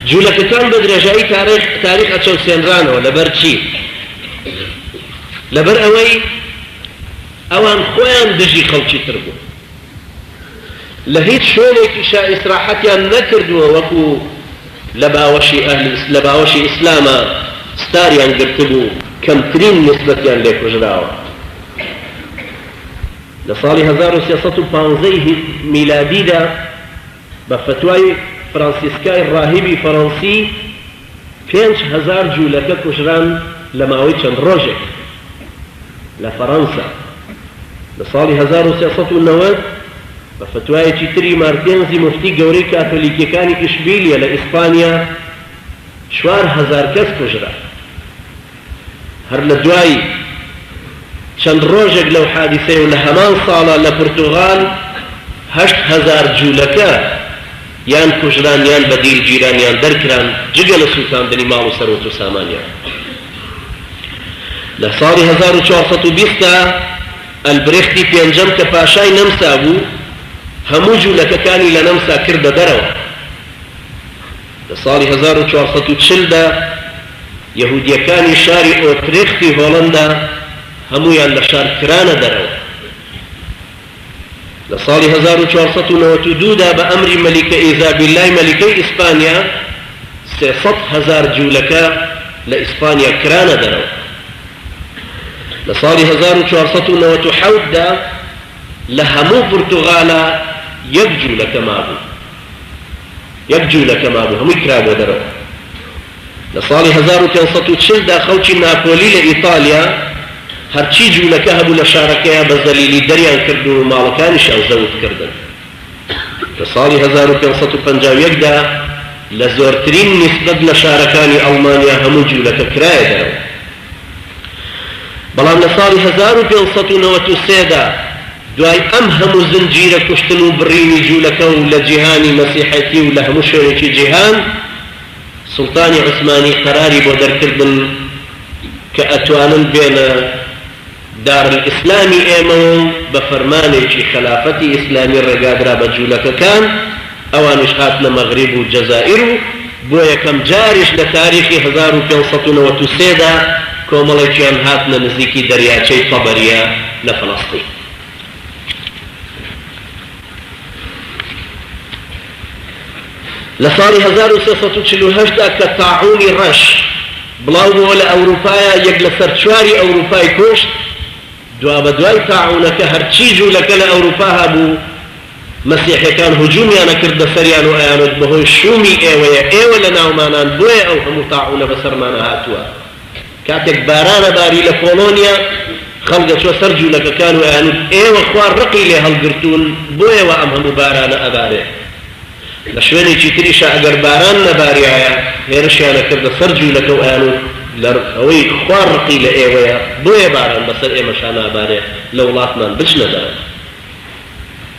جولەکەکان بە درێژایی تاریخ تاریخ ئەچەوسێنرانەوە لەبەر چی؟ لەبەر ئەوەی ئەوان خۆیان دژی خەڵکی تر بوون لە هیچ شوێنێکیشا ئیسراحەتیان نەکردووە وەکو لە باوەشی ئەهل لە باوەشی ئیسلاما ستاریان گرتبوو کەمترین نیسبەتیان لێ کوژراوە لە ساڵی هەزار و سێ سەد و پازدە ی میلادیدا. بە فەتوای فرانسیسکای ڕاهیبی فەرەنسی پێنج هەزار جوولەکە کوژران لە ماوەی چەند ڕۆژێک لە فەرەنسا لە ساڵی هەزار و سێ سەد و نەوەد، بە فەتوایەکی تری مارتێنزی موفتی گەورەی کاتۆلیکیەکانی ئیشبیلیە لە ئیسپانیا چوار هەزار کەس کوژرا. هەر لە دوای چەند ڕۆژێک لەو حادیسەیە و لە هەمان ساڵە لە پورتوغال هەشت هەزار جولەکە یان کوژران یان بە دیل گیران یان دەرکران جگە لە سوتاندنی ماڵ و سەروەت و سامانیان. لە ساڵی هەزار و چوار سەد و بیست دا ئەلبرێختی پێنجەم کە پاشای نەمسا بوو هەموو جولەکەکانی لە نەمسا کردە دەرەوە. لە ساڵی هەزار و چوار سەد و چل دا یەهودییەکانی شاری ئۆترێختی هۆڵەندا هەموویان لە شار کرانە دەرەوە. لە ساڵی هەزار و چوار سەد و نەوەد و دوو دا بە ئەمری مەلیکە ئیزابیللای مەلیکەی ئیسپانیا سێ سەد هەزار جوولەکە لە ئیسپانیا کرانە دەرەوە. لە ساڵی هەزار و چوار سەد و نەوەد و حەوت دا لە هەموو پورتوغالا یەک جوولەکە مابوو. یەک جولەکە مابوو هەمووی کرابووە دەرەوە. لە ساڵی هەزار و پێنج سەد و چل دا خەڵکی ناپۆلی لە ئیتالیا هەرچی جولەکە هەبوو لە شارەکەیان بە زەلیلی دەریان کرد و ماڵەکانیشیان زەوت کردن. لە ساڵی هەزار و پێنج سەد و پەنجا و یەک دا لە زۆرترین نیسبەت لە شارەکانی ئەڵمانیا هەموو جولەکە کرایە دەرەوە. بەڵام لە ساڵی هەزار و پێنج سەد و نەوەد و سێ دا دوای ئەم هەموو زنجیرە کوشتن و بڕینی جوولەکە و لە جیهانی مەسیحێتی و لە هەموو شوێنێکی جیهان سوڵتانی عوسمانی قەراری بۆ دەرکردن کە ئەتوانن بێنە دارالئیسلامی ئێمەوە و بە فەرمانێکی خەلافەتی ئیسلامی ڕێگادرا بە جوولەکەکان، ئەوانیش هاتنە مەغریب و جەزائیر و بۆ یەکەم جاریش لە تاریخی هەزار و پێنج سەد و نەوەد و سێ دا کۆمەڵێکیان هاتنە نزیکی دەریاچەی تەبەریە لە فەلەستین. لە ساڵی هەزار و سێ سەد و چل و هەشت دا کە تاعوونی ڕەش بڵاوبۆوە لە ئەوروپایا یەک لە سەر چواری ئەوروپای کوشت، دوابەدوای تاعوونەکە هەرچی جوولەکە لە ئەوروپا هەبوو مەسیحیەکان هجوومیان ئەکردە سەریان و ئەیانوت بەهۆی شوومی ئێوەیە ئێوە لەناومانان بۆیە ئەو هەموو تاعوونە بەسەرمانا هاتووە. کاتێک باران ئەباری لە پۆڵۆنیا، خەڵک ئەچووە سەر جوولەکەکان و ئەیانووت، ئێوە خوا ڕقی لێ هەڵگرتوون، بۆیەوە ئەم هەموو بارانە ئەبارێ. لە شوێنێکی تریشا ئەگەر باران نەباریایە، هێرشیان ئەکردە سەر جوولەکە و ئەیانووت، لە ئەوەی خوا ڕقی لە ئێوەیە، بۆیە باران بەسەر ئێمەشا نابارێ، لە وڵاتمان بچنە دەرەوە.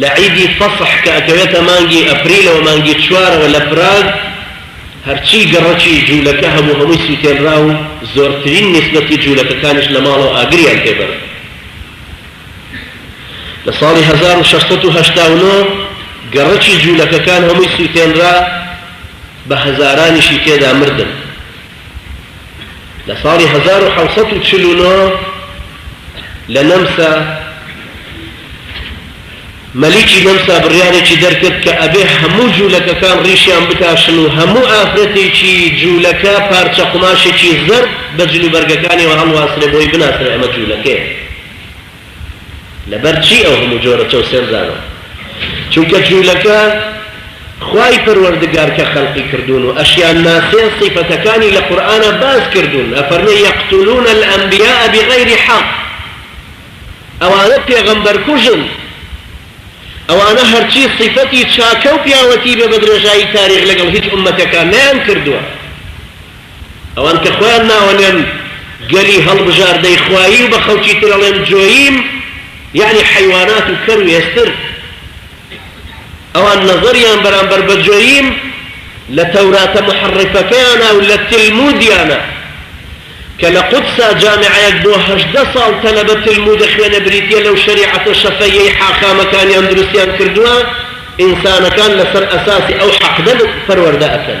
لە عیدی فەسح کە ئەکەوێتە مانگی ئەپریلەوە مانگی چوارەوە لە پراگ هەرچی گەڕەکی جوولەکە هەبوو هەمووی سووتێنرا و زۆرترین نیسبەتی جوولەکەکانیش لە ماڵەوە ئاگریان پێ بەرد. لە ساڵی هەزار و شەش سەد و هەشتا و نۆ گەڕەکی جوولەکەکان هەمووی سووتێنرا بە هەزارانیشی تێدا مردن. لە ساڵی هەزار و حەوت سەد و چل و نۆ لە نەمسا، مەلیکی نەمسا بڕیارێکی دەرکرد کە ئەبێ هەموو جوولەکەکان ڕیشیان بتاشن و هەموو ئافرەتێکی جوولەکە پارچە قوماشێکی زەرد بە جلوبەرگەکانیەوە هەڵواسرێ بۆی بناسرێ ئەمە جوولەکەیە. لەبەر چی ئەو هەموو جۆرە چەوسێنرانە؟ چونکە جوولەکە خوای پەروەردگار کە خەلقی کردوون و ئەشیان ناسێ سیفەتەکانی لە قورئانا باس کردوون ئەفەرمێ یقتلون الانبیاء بغیر حق ئەوانە پێغەمبەر کوژن ئەوانە هەرچی سیفەتی چاکە و پیاوەتی بێ بە درێژایی تاریخ لەگەڵ هیچ ئوممەتێکا نەیان کردووە. ئەوان کە خۆیان ناوە نێن گەلی هەڵبژاردەی خوایی و بە خەڵکی تر ئەڵێن جۆییم یەعنی حەیوانات و کەر و ئێستر ئەوان نەزەریان بەرامبەر بە جۆییم لە تەوراتە محڕفەکەیانە و لە تلمودیانە کە لە قودسا جامعەیەک بۆ هەژدە ساڵ تەلەبە تلمود دەخوێنێ بریتیە لەو شەریعەتە شەفەییەی حاخامەکانیان دروستیان کردووە ئینسانەکان لەسەر ئەساسی ئەو حەقدە پەروەردە ئەکەن